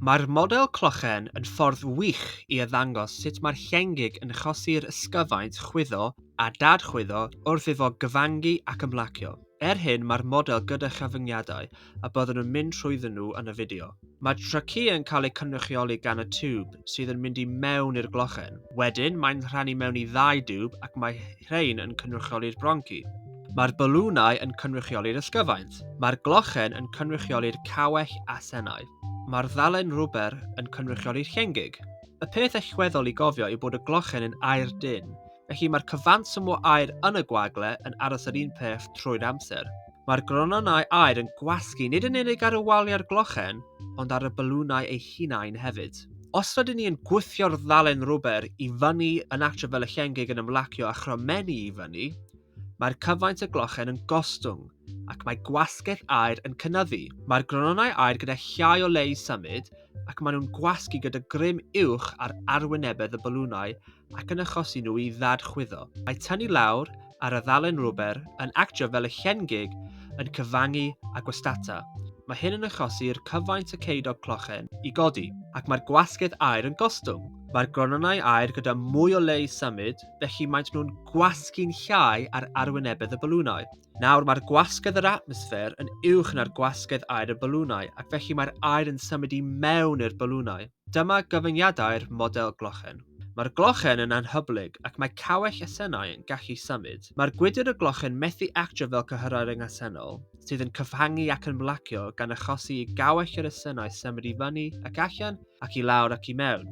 Mae'r model clochen yn ffordd wych i arddangos sut mae'r llengig yn chosi'r ysgyfaint chwyddo a dad-chwyddo wrth iddo gyfangu ac ymlacio. Er hyn mae'r model gyda chyfyngiadau a byddwn yn mynd trwyddyn nhw yn y fideo. Mae traciau'n cael eu cynrychioli gan y tiwb sydd yn mynd i mewn i'r glochen. Wedyn mae'n rhannu mewn i ddau diwb ac mae rhain yn cynrychioli'r bronci. Mae'r balwnau yn cynrychioli'r ysgyfaint. Mae'r glochen yn cynrychioli'r cawell a senau. Mae'r ddalen rwber yn cynrychioli'r llengig. Y peth allweddol i gofio yw bod y glochen yn aer dynn, felly mae'r cyfanswm o aer yn y gwagle yn aros yr un peth trwy'r amser. Mae'r gronynnau aer yn gwasgu nid yn unig ar y waliau a'r glochen, ond ar y balwnau eu hunain hefyd. Os rydyn ni yn gwthio'r ddalen rwber i fyny yn atref fel y llengig yn ymlacio a chromennu i fyny, Mae'r cyfaint o glochen yn gostwng, ac mae gwasgell aer yn cynyddu. Mae'r gronnau aer gyda llai o le i symud, ac maen nhw'n gwasgu gyda grym uwch ar arwynebedd y balwnau ac yn achosi nhw i ddad-chwyddo. Mae tynnu lawr ar y ddalen rwber yn actio fel y llen gig yn cyfangu a gwastata. Mae hyn yn achosi i'r cyfaint o ceudog clochen i godi, ac mae'r gwasgedd aer yn gostwng. Mae'r gronnau aer gyda mwy o le i symud, felly maent nhw'n gwasgu'n llai ar arwynebedd y balwnau. Nawr mae'r gwasgedd yr atmosffer yn uwch na'r gwasgedd aer y balwnau ac felly mae'r aer yn symud i mewn i'r balwnau. Dyma gyfyngiadau'r model glochen. Mae'r glochen yn anhyblyg ac mae cawell asennau yn gallu symud. Mae'r gwydr y glochen methu actio fel cyhyrau ryngasennol, sydd yn cyfhangu ac yn blacio gan achosi i gawell yr asennau symud i fyny ac allan ac i lawr ac i mewn.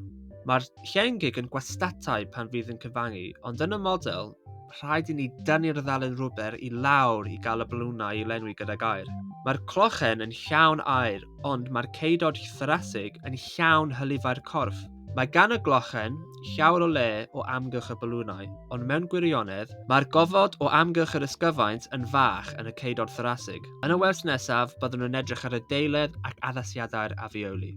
Mae'r llengig yn gwastatau pan fydd yn cyfangu, ond yn y model, rhaid i ni dynnu'r ddalen rwber i lawr i gael y balwnau i lenwi gydag aer. Mae'r clochen yn llawn aer, ond mae'r ceudod thorasig yn llawn hylifau'r corff. Mae gan y glochen llawer o le o amgylch y balwnau, ond mewn gwirionedd, mae'r gofod o amgylch yr ysgyfaint yn fach yn y ceudod thorasig. Yn y wers nesaf, byddwn yn edrych ar y deiledd ac addasiadau'r afioli.